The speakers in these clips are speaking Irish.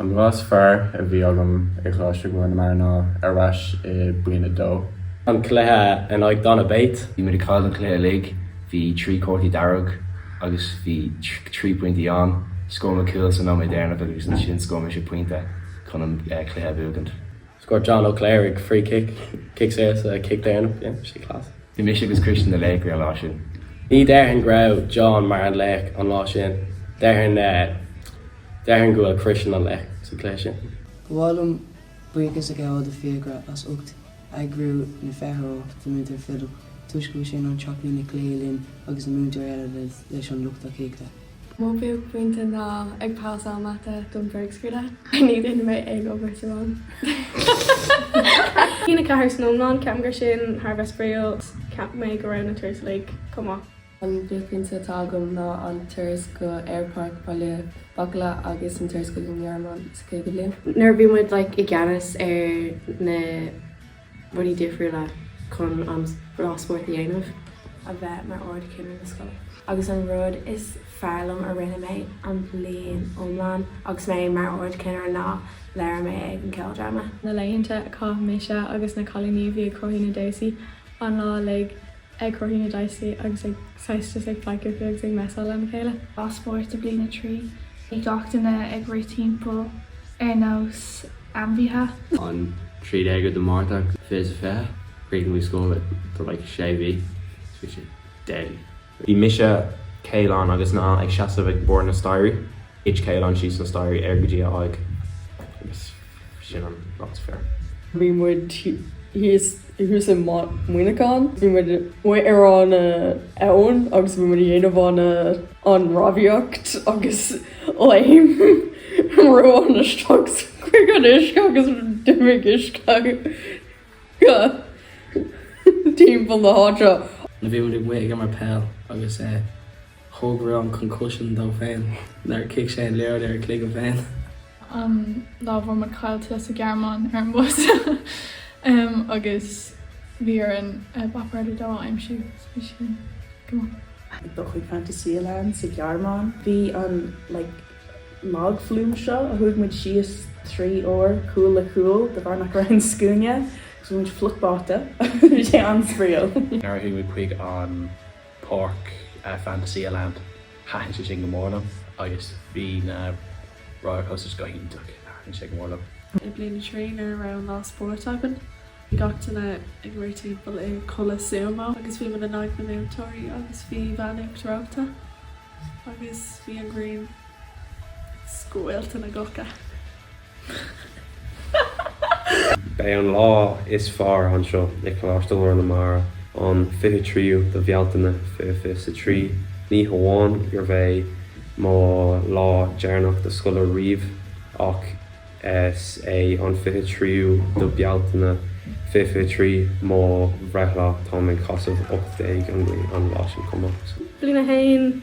An cluiche is fearr a bhí agam i gColáiste Ghlór na Mara ná ar ais i Bliain 2. An cluiche in aghaidh Donabate. Bhí muid ag cailleadh an cluiche uilig. Bhí trí cárta dearg agus bhí trí pointí ann. Scóráil muid cúl san nóiméad deireanach agus ansin scóráil mise pointe chun an cluiche a bhuachaint. Scored John Ó Cléirigh an free kick, cic saor sa chic deireanach, yeah, bhí sé class. Bhí mise agus Christian na laochraí an lá sin. Ní déarfainn go raibh John mar an laoch an lá sin, déarfainn, déarfainn go bhfuil Christian an laoch sa cluiche sin. Ba mhaith liom buíochas a ghabháil do Fiachra as ucht eagrú na feitheoireachta agus do Múinteoir Philib toisc go bhfuil sé in ann teacht chuig na cluichí linn agus na múinteoirí eile leis an lucht tacaíochta. Mo bhuaicphointe ná ag pasáil mata do na bréagscrúduithe. Ní dhéanann mé ag obair sa mata. Cinnirí 4 san iomlán, ceapaim gur sin thar a bheith spraíúil. Cheap mé go raibh na turais uilig chomh maith. An buaicphointe atá agam ná an turas go Aerpáirc Bhaile Bacala agus an turas chuig an nGearmáin sa chéad bhliain. Nuair a bhí muid like i gceannas ar na. Rudaí difriúla chun an lá spóirt a dhéanamh. a bheith mar Ard Chinnire na scoile. Agus an rud is fearr liom a rinne mé an bhliain iomlán agus mé mar Ard Chinnire ná labhair mé ag an Ceoldráma. na laethanta a chaith mise agus na cailíní, bhí ag cruthú na damhsaí an lá uilig ag cruthú na damhsaí agus ag seistis ag faic fúthu agus ag messáil lena chéile. Lá spóirt i bliain a trí. Bhí gach duine ag rith timpeall ar nós ainmhithe. an 13ú de Márta 2020. Chríochnaigh muid scoil le like sé mhí so bhí sé deadly. Bhí mise, Caolán agus Niall ag seasamh ag barr na staighrí. Thit Caolán síos na staighrí ar go dtí a aghaidh agus. Sin an lá is fearr. Bhí muid thuas i Muineachán. Bhí muid amuigh ar an abhainn agus bhí muid a dhéanamh an an rámhaíocht agus léim Rowan isteach chuig an uisce agus d'imigh uisce timpeall na háite. Bhí muid amuigh ag imirt peil agus thóg Rowan concussion dó féin nuair a chic sé an liathróid ar a chloigeann féin. an lá bhfuair muid caillte sa Ghearmáin ar an bus agus bhí orainn bus a dó a aimsiú agus bhí sé go maith. Ag dul chuig Phantasialand sa Ghearmáin. Bhí an like log flume seo a chuaigh muid síos trí uair cúl le cúl de bharr nach raibh aon scuaine agus bhí muid fliuch báite agus bhí sé an-spraíúil. Nuair a chuaigh muid chuig an. páirc Fantasyland. Thaitin sé sin go mór liom agus bhí na roller coasters go hiontach. Thaitin sé go mór liom. I mbliain a trí, nuair a raibh an lá spóirt againn, bhí gach duine ag rith timpeall i culaith Súmó agus bhí muid in aghaidh na múinteoirí agus bhí veain uachtar reoite agus bhí an ghrian ag scoilteadh na gclocha. Beidh an lá is fearr anseo i Coláiste Ghlór na Mara an 23ú de Bhealtaine 2023. Ní hamháin gurb é mo lá deireanach de scoil ariamh ach is é an 23ú de Bhealtaine 2023 mo bhreithlá, táim ag casadh 18 an mhí an lá sin chomh maith. Bliain a haon.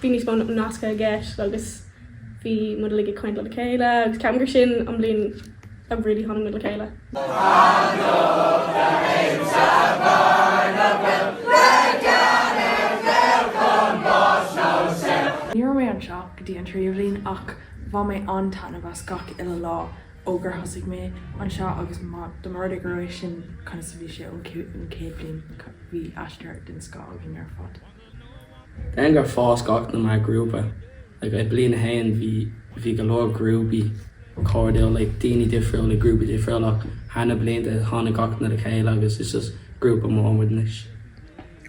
Bhí níos mó nascadh i gceist agus bhí muid uilig ag caint lena chéile agus ceapaim gur sin an bhliain a really tháinig muid le chéile. Ní raibh mé anseo go dtí an tríú bhliain ach bhain mé an-taitneamh as gach uile lá ó gur thosaigh mé anseo agus dá mba rud é gurb é sin conas a bhí sé ón chéad bhliain, bhí aistear den scoth againn ar fad. Déarfainn gur fás gach duine mar ghrúpa. Like I bliain a haon bhí bhí go leor grúpaí cairdiúil like daoine difriúil i grúpaí difriúil ach thar na blianta tháinig gach duine le chéile agus is just grúpa mór muid anois.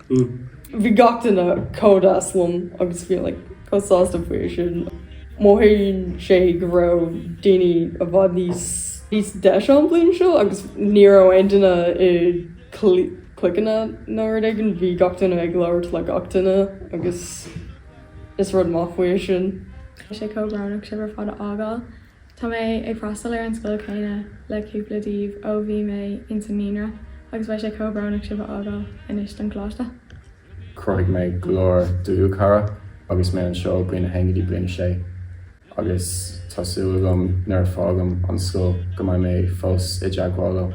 Mm. Bhí gach duine chomh deas liom agus bhí like chomh sásta faoi sin. Mothaíonn sé go raibh daoine i bhfad níos níos deise an bliain seo agus ní raibh aon duine i Cliqueanna nó rud éigin. Bhí gach duine ag labhairt le gach duine agus is rud maith faoi sin. Tá sé chomh brónach sibh ar fad a fhágáil. Tá mé ag freastal ar an scoil chéanna le cúpla díbh ó bhí mé ins an naíonra agus beidh sé chomh brónach sibh a fhágáil anois don choláiste. Chruthaigh mé go leor dlúthchara agus mé anseo bliain a haon go dtí bliain a 6 agus tá súil agam nuair a fágaim an scoil go mbeidh mé fós i dteagmháil leo.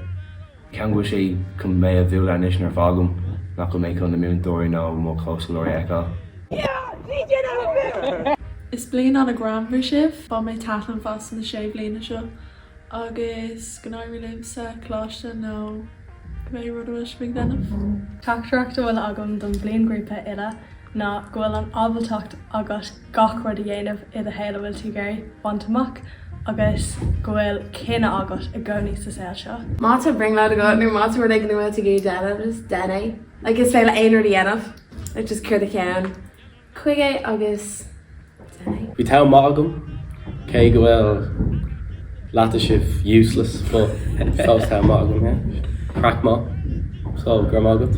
Ceapaim go bhfuil sé chun mé a bhualadh anois nuair a fágaim nach bhfuil mé chun na múinteoirí nó mo chomhscoláirí a fheiceáil. Is bliain ana greannmhar sibh. Bhain mé taitneamh as na sé bliana seo. Agus go n-éirí libh sa choláiste nó cibé rud a bhfuil sibh ag déanamh! Teachtaireacht a bhfuil agam don bhliainghrúpa uile ná go bhfuil an ábaltacht agat gach rud a dhéanamh i do shaol a bhfuil tú ag iarraidh bhaint amach agus go bhfuil cinneadh agat i gcónaí sa saol seo. Má tá brionglóid agat nó má tá rud éigin a bhfuil tú ag iarraidh déanamh, just déan é. Like is féidir leat aon rud a dhéanamh. Like just cur do cheann. chuige agus deineadh. Bhí t-am maith agam, cé go bhfuil leath agaibh useless but fós t-am maith agam yeah. Craic maith. So, go raibh maith agat.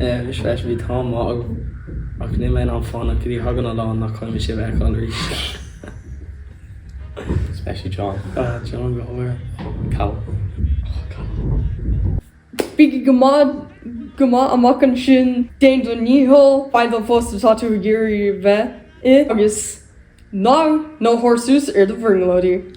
Eh, mise freisin bhí t-am maith agam ach níl mé in ann fanacht go dtí go dtagann an lá nach gcaithfidh mé sibh a fheiceáil arís. Especially John. Ah, John go háirithe. Callum. Bígí go maith, go maith amach ansin, déan do dhícheall, faigh an post atá tú ag iarraidh a bheith ann agus ná, ná tabhair suas ar do bhrionglóidí.